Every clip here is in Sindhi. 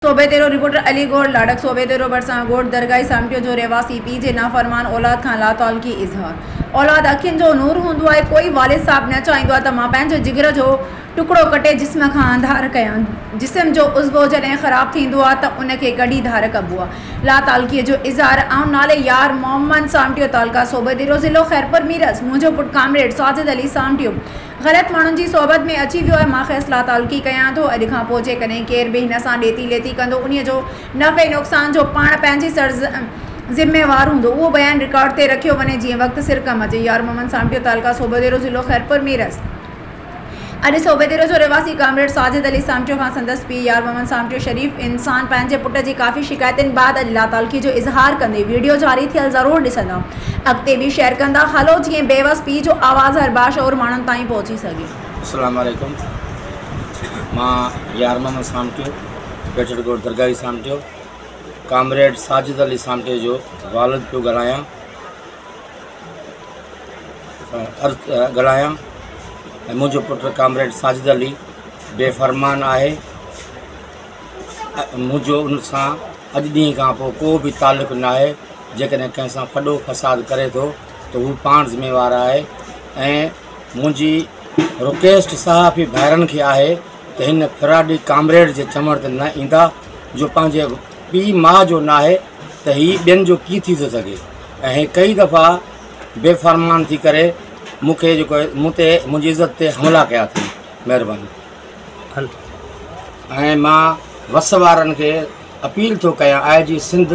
صوبي ديرو، رپورٽر علي گوهر لاڙڪ، صوبي ديرو ڀرسان ڳوٺ درگاهي سامٽيو جو رهواسي پيء جي نافرمان اولاد کان لاتعلقي اظهار، اولاد اکين جو نور هوندو آهي، ڪوئي والد صاحب نه چاهيندو آهي ته مان پنهنجي جگر جو ٽڪڙو ڪٽي جسم کان انڌار ڪيان، جسم جو عضوو جڏهن خراب ٿيندو آهي ته ان کي ڪڍي ڌار ڪبو آهي، لاتعلقي جو اظهار، آئون نالي يار محمد سامٽيو تعلقه صوبي ديرو ضلعو خيرپور ميرس، منهنجو پٽ ڪامريڊ ساجد علي سامٽيو، غلط ماڻهن جي صحبت ۾ اچي ويو ۽ مان کيس لاتعلقي ڪيان ٿو. اڄ کان پوء جيڪڏهن ڪير به هن سان ڏيتي ليتي ڪندو انهيء جو نفعي نقصان جو پاڻ پنهنجي سر ذميوار هوندو. اهو بيان رڪارڊ تي رکيو وڃي جيئن وقت سر ڪم اچي. يار محمد سامٽيو تعلقه صوڀيديرو ضلعو خيرپور ميرس. اڄ صوڀيديرو جو رهواسي ڪامريڊ ساجد علي سامٽيو کان سندس پيء يار محمد سامٽيو شريف انسان پنهنجي پٽ جي ڪافي شڪايتن بعد اڄ لاتعلقي جو اظهار ڪندي ويڊيو جاري ٿيل ضرور ڏسندا. اڳتي به شيئر ڪندا هلو جيئن بيوس پيء جو آواز هر باشعور ماڻهن تائين پهچي سگهي. اسلام عليڪم مان يار محمد سامٽيو گجر ڳوٺ درگاهي سامٽيو ڪامريڊ ساجد علي سامٽيو جو والد پيو ڳالهايان ڳالهايان ۽ منهنجو پٽ ڪامريڊ ساجد علي بي فرمان آهي منهنجو ان سان اڄ ڏينهن کان پوء ڪو به تعلق نه آهي جيڪڏهن ڪنهن سان ڦڏو فساد ڪري ٿو ته هو پاڻ ذميوار آهي ۽ منهنجي رڪويسٽ صحافي ڀائرن کي آهي ته هن فراڊي ڪامريڊ جي چنبڙ تي نه ايندا جو پنهنجي پيء ماء جو نه آهي ته هي ٻين جو ڪي ٿي ٿو سگهي ۽ هي ڪئي دفعا بي فرمان ٿي ڪري مون کي جيڪو مون تي منهنجي عزت تي حملا ڪيا اٿئي مهرباني ۽ مان وس وارن کي اپيل ٿو ڪيان آء جي سنڌ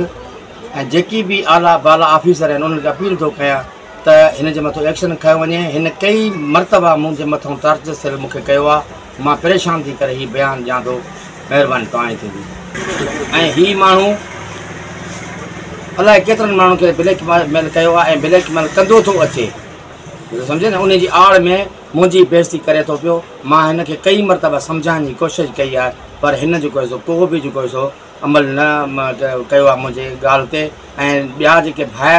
۽ جيڪي به اعليٰ بالا آفيسر آهن انهن کي اپيل ٿو ڪيان ته هن جي مٿو ايڪشن کنيو وڃي هن ڪئي مرتبا مون جي مٿو ٽارچر سيل مون کي ڪيو آهي مان پريشان ٿي ڪري هي بيان ڏيان ٿو مهرباني توهان جي ٿيندي ۽ هي ماڻهو الاء ڪيترن ماڻهن کي بليڪ ميل ڪيو آهي ۽ بليڪ ميل ڪندو ٿو اچي سمجهي نه انهي جي آڙ ۾ منهنجي بيعزتي ڪري ٿو پيو، مان هن کي ڪئين مرتبه سمجهائڻ جي ڪوشش ڪئي آهي پر هن جيڪو هي سو ڪو به جيڪو هي سو عمل نه ڪيو آهي منهنجي ڳالهه تي ۽ ٻيا جيڪي ڀائر